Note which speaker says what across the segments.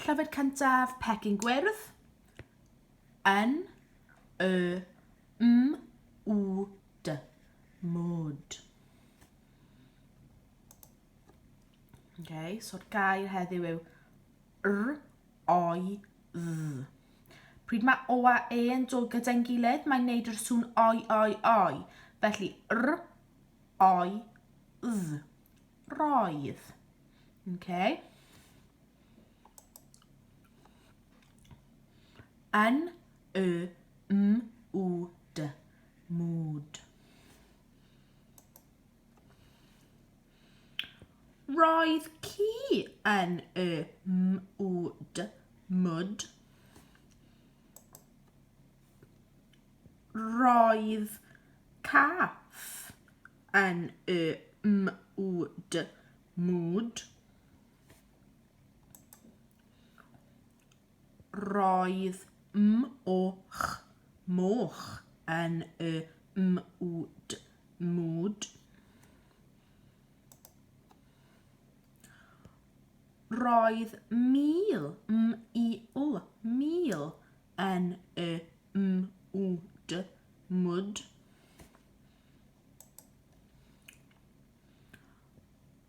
Speaker 1: Llyfr cyntaf, Pecyn Gwyrdd. Yn. Y. M. W. D. Mood. Okay, so'r gair heddiw yw r, oi, dd. Pryd mae o a e yn dod gyda'n gilydd, mae'n neud yr sŵn oi, oi, oi. Felly, r, oi, dd. Roedd. Okay. Yn y m w d. Mood. Roedd ci yn y m w d. Mood. Roedd cath M-U-D, mood. Roedd m-och, moch, yn y m-u-d, mood. Roedd mil, m-il, mil, yn y m-u-d, mood.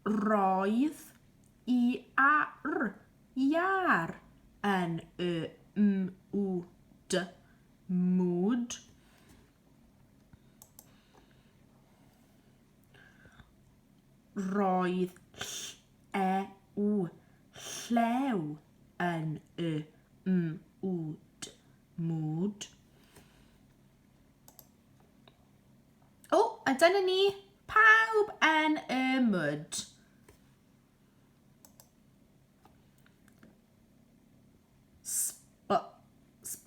Speaker 1: Roedd y ar iâr yn y mwd, mood. Roedd llew, llew yn y mwd, mood. O, oh, a dyna ni, pawb yn y mwd.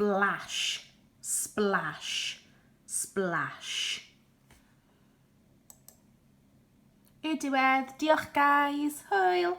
Speaker 1: splash, splash, splash. Y diwedd, diolch guys, hwyl!